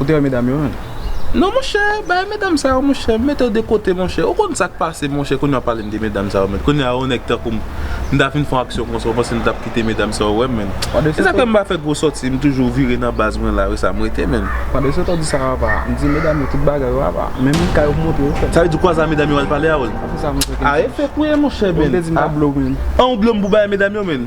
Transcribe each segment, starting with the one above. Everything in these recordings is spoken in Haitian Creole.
Ou te wè medam yo menm? Non monchè, bagay medam sa yo monchè, m mete yo de kote monchè, ou konn sak pase monchè kounye w ap pale m de medam sa yo menm, kounye a yon nèg tankou m m ta fin fon aksyon konsa ou panse m tap kite medam sa ou wè menn e sa fè m pa fè gwo sòti m toujou vire nan baz mwen la resa m rete menn. Pran de sot ou di sa apa m di medam yo tout bagay yo apa menm kay yo m montre yo fèt. Sa vle di kwa sa medam yo al pale a oul. Ase sa monchè kenn chans. A e fèk ou ye monchè menn. Ou vle di m ta blo menn. An ou blo m pou bay medam yo menn.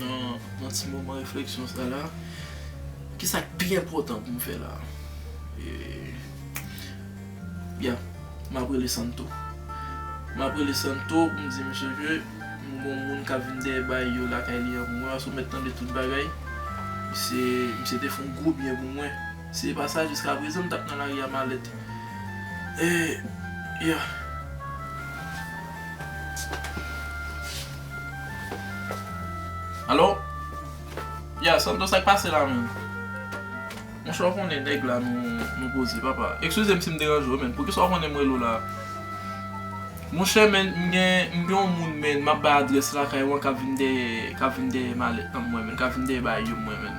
Nan ti moman refleksyon sa la, ki sa k pi enpòtan pou m fè la? Byen, m ap rele Santo. M ap rele Santo pou m di misye ke m gen yon moun k ap vin dèyè baay yo lakay li an pou mwen paske ou mèt tande tout bagay. Misye te fè yon gwo byen pou mwen. Si e pa sa jiska prezan m tap nan lari a malèt eh yeah. Allo Yeah Santo sak pase la menm? Monchè ou konnen nèg la nou koze papa Ekskuze m si m deranje w men poukisa ou konnen m rele w la Monchè men m gen yon moun men map bay adrès lakay ou an kap vin dèyè kap vin dèyè malèt nan mwen men kap vin dèyè bagy yo mwen men.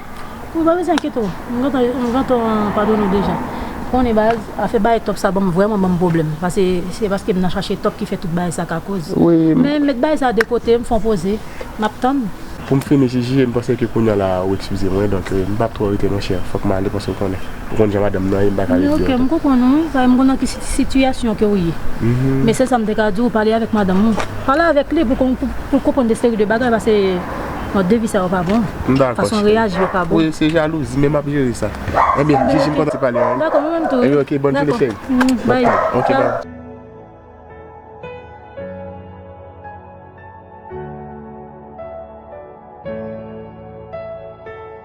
Ou pa bezwen enkyete w, m gentan m gentan padone w deja. Konnen baz, afè bay tòp sa banm vrèman banm pwoblèm. Pase se paske m nan chache tòp ki fè tout bagay sa ka koz. Men m met bagay sa de kote, m fè yon poze, m ap tann. Pou m fini ti Jije, m panse ke kounya la ou ekskize mwen donk m pap twò rete monchè, fòk m ale pase w konnen. Ou konn jan madanm m nan ye m pa ka ret di anko. Ok, m konprann ou, paske m konn nan ki sitiyasyon ke ou ye. Men sèl sa m te ka di w, pale avèk madanm ou. Pale avèk li pou l konprann de seri de bagay pase. Non depi sa yo pa bon. M dakò. Fason w reyaji yo pa bon. Wi se jalouzi men m ap jere sa. Enben Jiji m kontan te pale a. M dakò mwen menm tou. Enben ok bòn jounen cheri. Dakò. Bye. Ok bye.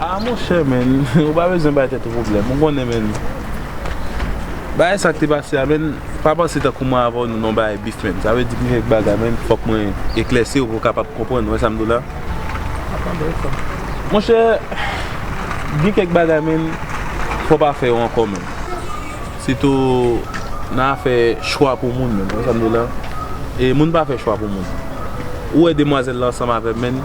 Ah monchè menn ou pa bezwen bay tèt ou pwoblèm ou konnen menn bagay sa ki te pase a menn pa panse tankou mwen avèw nou nan bagay bif menn sa vle di gen kèk bagay menn fòk mwen eklèsiw pou kapab konprann ou wè sam di w la monchè gen kèk bagay menn fò pa fè yo ankò menn sitou nan afè chwa pou moun menn ou wè sam di w la e moun pa fè chwa pou moun ou wè demwazèl la ansanm avèm menn.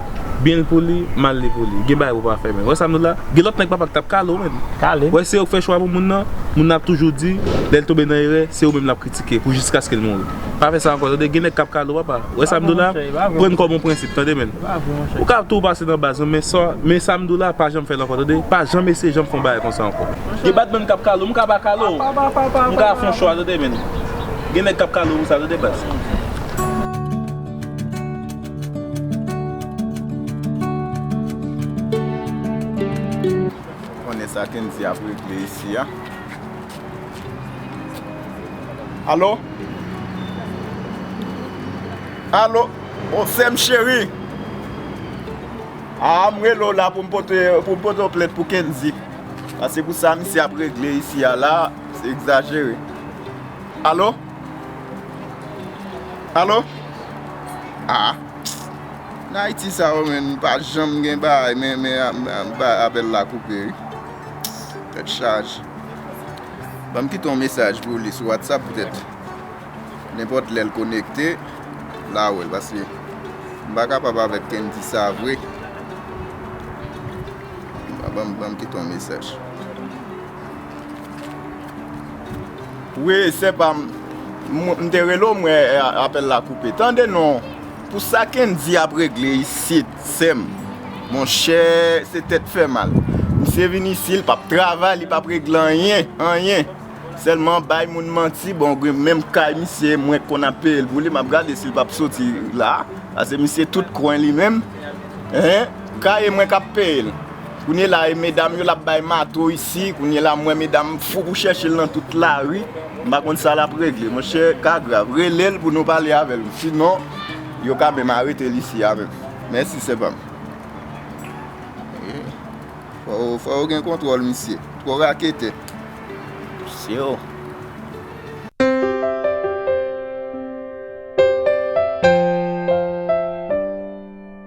Byen li pou li, mal li pou li. Gen bagay pou pa fè menn. Wè sa nou la? Gen lòt nèg papa ki tap kale w menn. Kale m. Wè se yo ki fè chwa pou moun nan, moun nan ap toujou di, lè l tonbe nan erè, se ou menm lap kritike pou jiskaske l mouri. Pa fè sa ankò tande, gen nèg kap kale w papa. Wè sa m di w la? Pran kòm yon prensip tande menn. Ou ka tou pase nan baz nou men sa, men sa m di w la pa janm fè l ankò tande. Pa janm eseye janm fè yon bagay konsa ankò. Gen bat menn kap kale w, m ka pa kale w. M ka fè yon chwa tande menn. Gen nèg kap kale w pou sa tande baz. Konnen sa kendy ap regle isi a. Alo Alo Oh sèm cheri A m rele w la pou m pote Pou m pote w plent pou kendy Pase pou sa misye ap regle isi a la Se egzajere Alo Alo? Aa Nan Ayiti sa yo menn pa janm gen baay men apèl la koupe wi Tèt chaje Banm kite yon mesaj pou ou li sou Whatsapp poutèt nenpòt lèl konekte la wèl paske m pa kapab avèk Kendy sa vre Banm kite yon mesaj. Wi sè pam m te rele w m wè apèl la koupe tande non pou sa kendy ap regle isit sèm monchè se tèt fè mal misye vin isi li pap travay li pap regle anyen anyen sèlman bay moun manti bon menm kay misye mwen konn ap peye l pou li map gade si l pap soti la pase misye tout kwen li menm kaye mwen kap peye l. Kounye la e medam yo lap bay mato isi kounye la mwen medam fou pou chèchel nan tout lari m pa konn sa lap regle monchè ka grav relel pou nou pale avèl si non yo ka menm aretel isi a menm mèsi sè pam fò ou gen kontwòl misye twò raketè misye oh.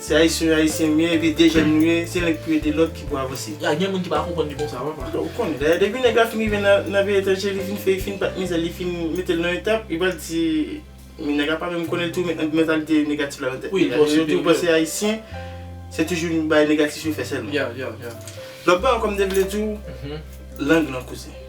Se ayisyen yo ayisyen mye epi de jèn nou ye se link pou ede lòt ki pou avanse. Ya gen moun ki pa konprann li konsa papa. Bon ou konnen dayè depi nèg la fin rive nan peyi etranje li fin fè li fin bat mizèl li fin metel nan yon tab li pral di men nèg la pa menm konnen li toujou met mantalite negatif la nan tèt li ya yo toujou panse ayisyen se toujou bagay negatif yo fè sèlman lòt bagay ankò m te vle diw lang lan kouzen.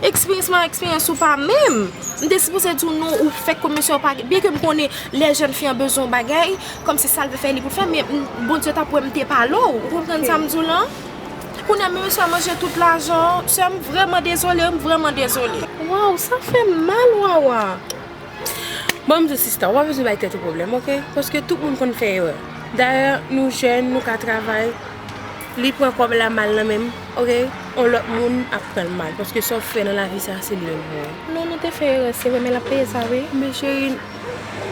Experience mwen experience ou pa menm. M te sipoze di w non ou fèk komanse ou pa gen byen ke m konnen lè jèn fi an bezwen yon bagay kòmsi sa l vle fè li pou l fè men Bondye ta pwè m te pale w ou konprann sa m di w lan kounye a menm si w ap manje tout lajan w sè m vrèman dezole m vrèman dezole. Waww sa fè m mal Wawa. Bon m di w sista ou pa bezwen bay tèt ou pwoblèm ok paske tout moun konn fè erè dayè nou jèn nou ka travay. Li pran kob la mal nan menm ok yon lot moun ap pranl mal paske sa ou fè nan lavi sa se li menm pou ou. Non nou te fè erè se vre men lap peye sa wi. Men cheri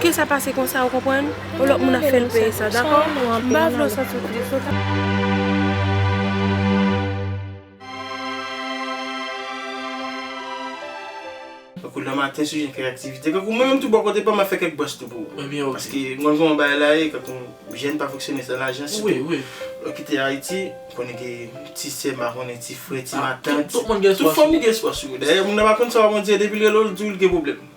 ke sa pase konsa ou konprann yon lot moun ap fèl peye sa dako m pa vle ou santi w tris ok. Tankou nan maten sou jen kèk aktivite, tankou mwen menm tou bò kote pa m ap fè kèk bwòs tou pou ou. Paske m konn kouman bagay la ye, tankou jèn pa fonksyone san lajan sitou. Lè kite Ayiti, m konnen ke ti sè, m pa konnen, ti frè, ti matant, tout fòm gen espwa sou yo. Dayè moun nan pa konn sa w ap andire depi l rele w l di w l gen pwoblèm.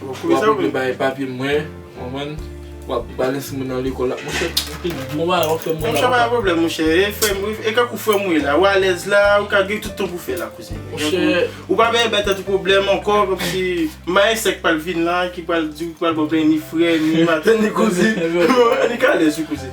Wap oblije bay papye mwen konprann wap balanse mwen nan lekòl la monchè anpil bon bagay wap fè mwen la monchè pa gen pwoblèm monchè e kak ou frèm ou ye la ou alèz la ou ka gen tout tan pou fè la kouzen monchè ou pa benyen bay tèt ou pwoblèm ankò kòmsi ma e sèk pral vin la ki pral di ou ki pral ba w plenyen ni frè ni matè ni kouzin li ka alèz wi kouzen.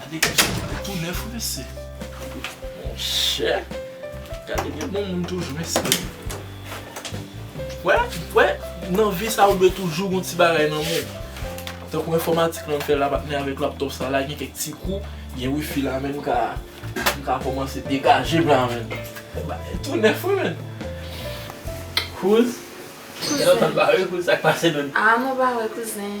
Gade kousen sa yo tou nèf mesye. Monchè. Gade gen bon moun toujou mesye. Wè, wè nan vi sa ou dwe toujou gon ti bagay nan men ou. Tankou enfòmatik lan m fè la m ap mennen avèk laptop sa la gen kèk ti kou, gen wifi la men m ka m ka kòmanse degaje m la men. Bagay tou nèf wi men. Kouz, lè w ap pale kouz sa k pase menm? A mwen pa wè kouzen.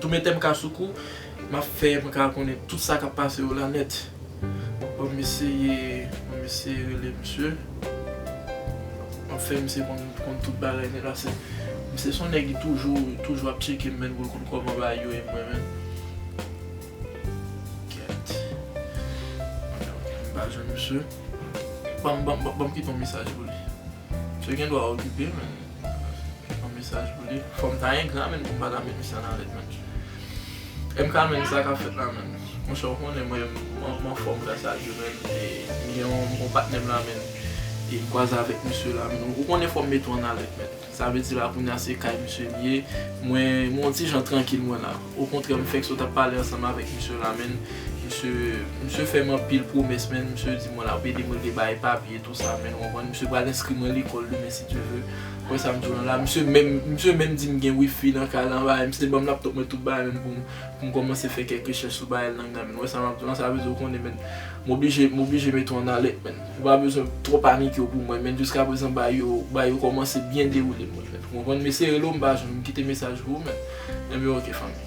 Tou metem ka sou kou map fè mwen ka konnen tout sa kap pase yo la nèt bon m eseye m eseye rele misye map fè misye konn tout bagay nèt la se misye son nèg li toujou toujou ap tcheke menn pou l konn koman bagay yo ye mwen menm kèt m pa jwenn misye banm banm banm kite yon mesaj pou li misye gen dwa okipe men. Yon mesaj pou li. Fòm ta engra menn pou m pa ta mete sa nan lèt menn. MK menn sa kap fèt la menn. Monchè ou konnen mwen m anfòm gras a Dye menn e m gen yon patnè m la menn e m kwaze avèk misye la menn. Ou konnen fòm mete w an alèt menn. Sa vle di la kounye a se kay misye m ye. Mwen yon ti jan trankil mwen la. Okontrè m fèk sot ap pale ansanm avèk misye la menn. Misye fè m anpil pwomès menn. Misye di mwen l ap ede m regle bagay papye. Konsa menn konprann misye pral enskri mwen lekòl demen si Dye ve. Wè sa misye wè la. Misye menm misye menm di m gen wifi nan kay lan bagay. Misye te banm laptop mwen tout bagay menm pou m pou m kòmanse fè kèk rechèch sou bagay lang nan menn. Wè sa map di w la sa vle di w konnen menn m oblije m oblije mete w an alèt menn. Ou pa bezwen twò panike w pou mwen menn jiska prezan bagay yo bagay yo kòmanse byen dewoule pou mwen menn. Ou konprann? Mesi hello m pa jwenn m kite mesaj pou ou menn. Anben ok fanmi.